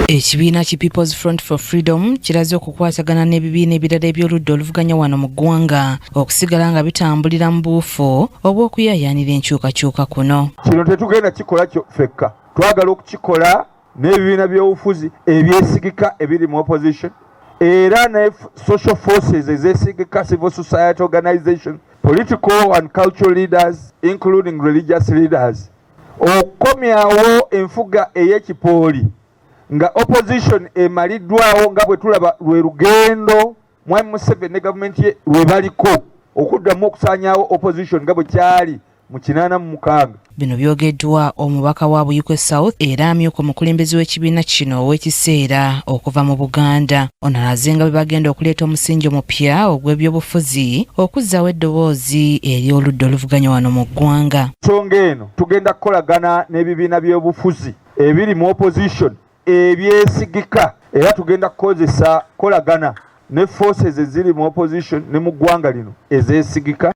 ekibiina ki peoples front for freedom kiraze okukwatagana n'ebibiina ebirala eby'oludda oluvuganya wano mu ggwanga okusigala nga bitambulira mu buufu obw'okuyayaanira enkyukakyuka kuno kino tetugenda kikola fekka twagala okukikola n'ebibiina by'obufuzi ebyesigika ebiri mu opposition era ne social forces ezesigika civil society organization political and cultural leaders including religious leaders okukomyawo enfuga ey'ekipooli nga opposition emaliddwawo nga bwe tulaba lwe lugendo Mwami Museveni ne gavumenti ye lwe baliko okuddamu okusaanyaawo opposition nga bwe kyali mu kinaana mu mukaaga. Bino byogeddwa omubaka wa Buyikwe South era amyuka omukulembeze w'ekibiina kino ow'ekiseera okuva mu Buganda. Ono alaze nga bwe bagenda okuleeta omusingi omupya ogw'ebyobufuzi okuzzaawo eddoboozi eri oludda oluvuganya wano mu ggwanga. Nsonga eno tugenda kukolagana n'ebibiina by'obufuzi ebiri mu opposition ebyesigika era tugenda kukozesa kolagana ne forces eziri mu opposition ne mu ggwanga lino ezeesigika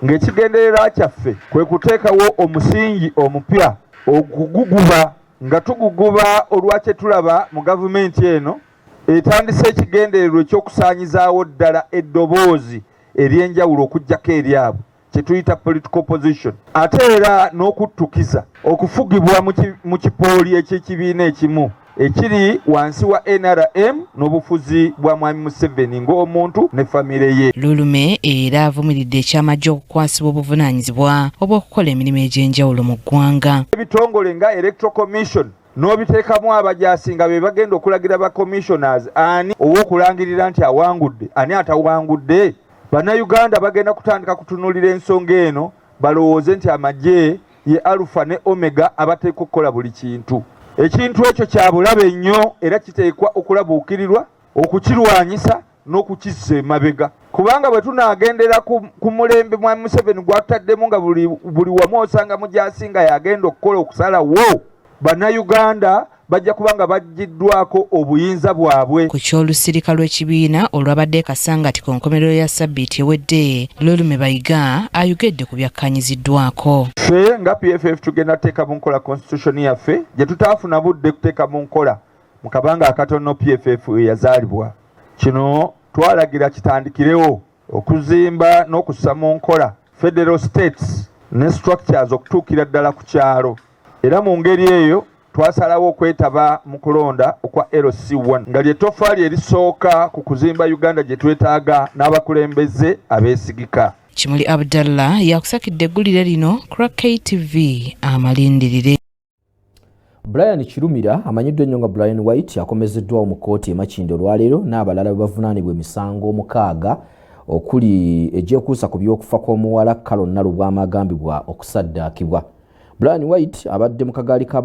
ng'ekigendererwa kyaffe kwe kuteekawo omusingi omupya oguguguba nga tuguguba olwa kye tulaba mu gavumenti eno etandise ekigendererwa eky'okusaanyizaawo ddala eddoboozi ery'enjawulo okuggyako eryabwe kyetuyita political position ate era n'okuttukiza okufugibwa mu kipooli eky'ekibiina ekimu ekiri wansi wa nrm n'obufuzi bwa mwami museveni ng'omuntu ne famire ye lulume era avumiridde ekyamajje okukwasibwa obuvunaanyizibwa obw'okukola emirimu egy'enjawulo mu ggwanga ebitongole nga electoral commission n'obiteekamu abajaasi nga be bagenda okulagira ba commissioners ani ow'okulangirira nti awangudde ani atawangudde bannayuganda bagenda kutandika kutunuulira ensonga eno balowooze nti amagye ye alufa ne omega abateekwa okukola buli kintu ekintu ekyo kya bulabe nnyo era kiteekwa okulabuukirirwa okukirwanyisa n'okukizza emabega kubanga bwe tunaagendera ku mulembe mwami Museveni gwatutaddemu nga buli wamu osanga mugyasinga yagenda okukola okusalawo bannayuganda bajja kuba nga bajjiddwako obuyinza bwabwe ku ky'olusirika lw'ekibiina olwabadde kasangati ku nkomerero ya sabbiiti ewedde lolume bayiga ayogedde ku byakkanyiziddwako ffe nga pff tugenda teeka mu nkola constitution yaffe gye tutaafuna budde kuteeka mu nkola mu kabanga akatono PFF we yazaalibwa. Kino twalagira kitandikirewo okuzimba n'okussa mu nkola federal states ne structures okutuukira ddala ku kyalo era mu ngeri eyo twasalawo okwetaba mu kulonda okwa LC1 nga lye toffaali erisooka ku kuzimba Uganda gye twetaaga n'abakulembeze abeesigika. Kimuli Abdallah yakusakidde eggulire lino Crack KTV amalindirire. brian kirumira amanyiddwa ennyo nga brian white akomezeddwawo mu kkooti emakinda olwaleero n'abalala bebavunaanibwa emisango omukaaga okuli egyekuusa ku by'okufa kw'omuwala kalon nalubwama agambibwa okusaddaakibwa brian white abadde mu kagaali ka